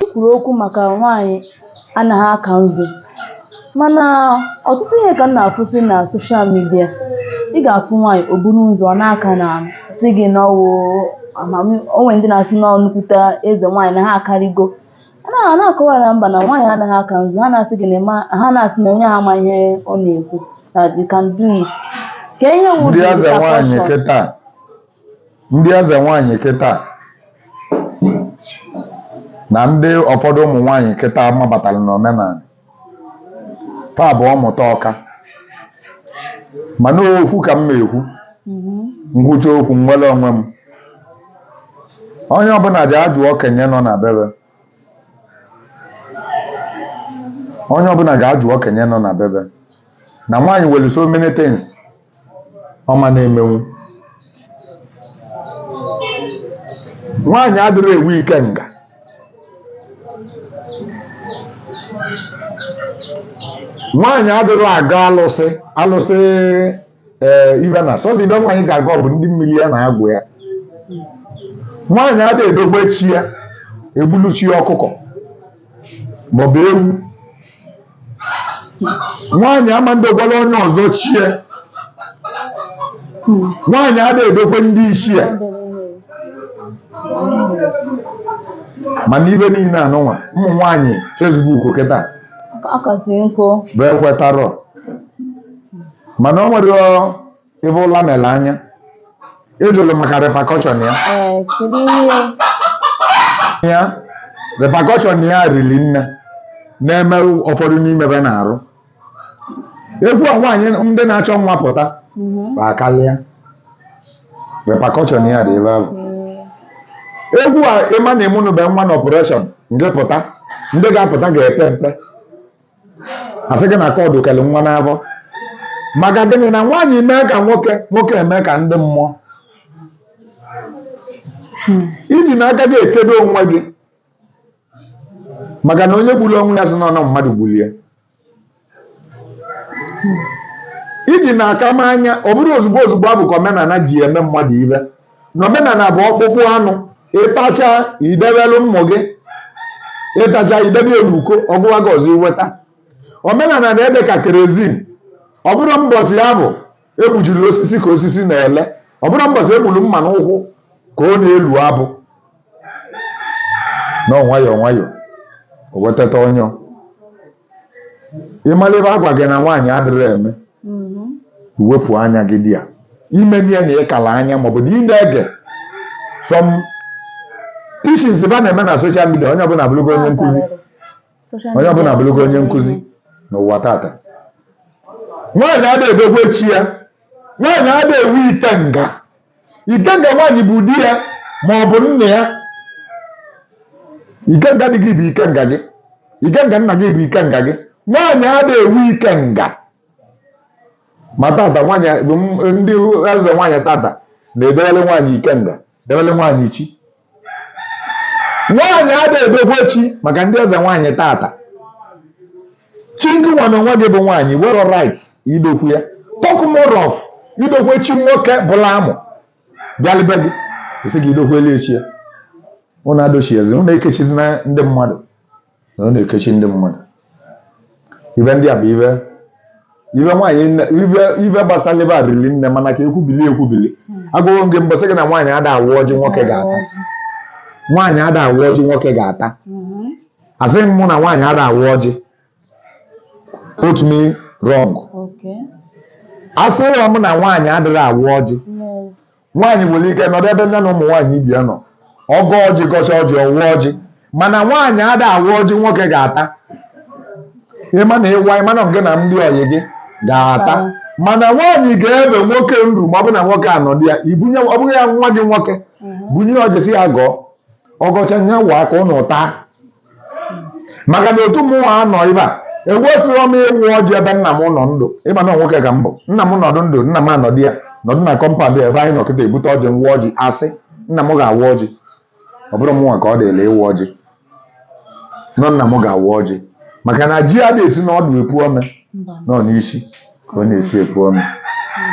I kwuru okwu maka nwaanyị anaghị aka nzu mana ọtụtụ ihe ka m na-afụsị na soshal midia ị ga-afụ nwaanyị o buru ụzọ ọ na-aka na-asị gị na ọ wụ amami o nwee ndị na-asị na ọ nnukwute eze nwaanyị na ha akarịgo a na-akọwara ha mba na nwaanyị anaghị aka nzu ha na-asị gị na ịma ha na-asị na onye a ama ihe ọ na-ekwu that you can do it kee ihe wụ ndị eze nwaanyị repercussion kịta ndị eze nwaanyị kịta na ndị ụfọdụ ụmụ nwaanyị kịta mabatara n'omenala fa bụ ọmụta ọka mana okwu ka m na-ekwu m kwuchaa okwu nwere onwe m onye ọbụla je ajụ okenye nọ na be be onye ọbụla ga-ajụ okenye nọ na be be na nwaanyị nwere so many things ọ ma na-emenwu nwaanyị adịrị ewu ikenga nwaanyị adịrị aga alụsị alụsị ee ibe na sọzi ebe nwaanyị ga-aga ọ bụ ndị mmiri ya na agwụ ya nwaanyị adị edokwa chi ya egbulu chi ya ọkụkọ maọbụ ewu nwaanyị ama ndogwara onye ọzọ chi ya nwaanyị adịghị edokwe ndị isi ya mana ibe niile anụnwa ụmụ nwaanyị fesbuk kịta Ọ kasị nkụ. bụ ekwetarọ mana o nwere ebe ụla mere anya ị jụrụ maka repakọshọn ya ee kedu ihe ya repakọshọn ya riri nne na-eme ụfọdụ n'ime be na-arụ egwu a nwaanyị ndị na-achọ nwa pụta Mhm. ma karịa repakọshọn ya dị ebe ahụ Ee. egwu a ị ma na ịmụnụbe nwa na ọpareshọn nke pụta ndị ga-apụta ga-epe mpe a sị gị na kọdụ kere nwa n'afọ maka gịnị na nwaanyị mee ka nwoke nwoke eme ka ndị mmụọ i ji n'aka gị ekedo onwe gị maka na onye gburu onwe ya sị na ọ nọ mmadụ gburu ya iji na-aka m anya ọ bụrọ ozugbo ozugbo abụ ka omenala ji eme mmadụ ibe na omenala bụ ọkpụkpụ anụ ị tachaa i debelu ụmụ gị ị tachaa i debe elu uko ọ gụwa gị ọzọ i weta omenala na-ede ka kerozin ọ bụrọ mbọsị abụ e gbujiri osisi ka osisi na-ele ọ bụrọ mbọsị e gburu mma n'ụkwụ ka ọ na-elu abụ na nwayọọ nwayọọ o wetata onwe ị mara ibe a gwa gị na nwaanyị adịghị eme Mhm. iwepụ anya gị dị ya ime ya na ịkala anya maọbụ na ị na-ege some teachings ba na-eme na social media onye ọbụla abụrụgo onye nkụzi Social onye ọbụla media. abụrụgo onye nkụzi n'ụwa tata nwaanyị adịghị edokwe chi ya nwaanyị adịghị ewu ikenga ikenga nwaanyị bụ di ya ma ọ bụ nna ya ikenga di gị bụ ikenga gị ikenga nna gị bụ ikenga gị nwaanyị adịghị ewu ikenga ma tata nwaanyị ndị eze nwaanyị tata na-edewere nwaanyị ikenga dewere nwaanyị chi nwaanyị ada edokwe chi maka ndị eze nwaanyị tata chi ngịnwa na onwe gị bụ nwaanyị nwerọ right idokwe ya talk more of idokwe chi nwoke bulu amụ bịa n'ibe gị asị gị idokwele ya chi ya ụnụ edochiezi ụnụ ekechizina ndị mmadụ na ụnụ na-ekechi ndị mmadụ ibe ndị a bụ ibe ibe nwaanyị nne- ibe ibe gbasara ibe a riri nne mana ka ekwubili ekwubili agụghị gị mbọsị gị na nwaanyị ada awa ọjị nwoke ga-ata nwaanyị ada awa ọjị nwoke ga-ata Mhm. asịghị m mụ na nwaanyị ada awa ọjị quote me wrong Okay. asịghị m na nwaanyị adịghị awa ọjị nwaanyị nwere ike nọdụ ebe nya na ụmụ nwaanyị ibe ya nọ ọ gọọ ọjị gọcha ọjị ọ waa ọjị mana nwaanyị ada awa ọjị nwoke ga-ata ịma na ịwa ịma na ngị na ndị ọyị gị ga-ata mana nwaanyị gaa ebe nwoke nru ma ọ bụ na nwoke anọdụ ya ibunye ọ bụghị ya nwa gị nwoke bunye ọjị sị ya gọọ ọ gọcha nya waa ka ụnụ taa maka na otu mụwa nọ ebe a ekwesịrọ m ịwa ọjị ebe nna m nọ ndụ ịma na nwoke ka m bụ nna m nọdụ ndụ nna m anọdụ ya nọdụ na kọmpand ebe anyị nọ kịta ebute ọjị m waa ọjị asị nna m ga-awa ọjị ọ bụrọ mụnwa ka ọ dịlị ịwa ọjị no nna m ga-awa ọjị maka na ji ada esi n'ọdụ epu ome na ọ n'isi ka ọ na-esi epu ome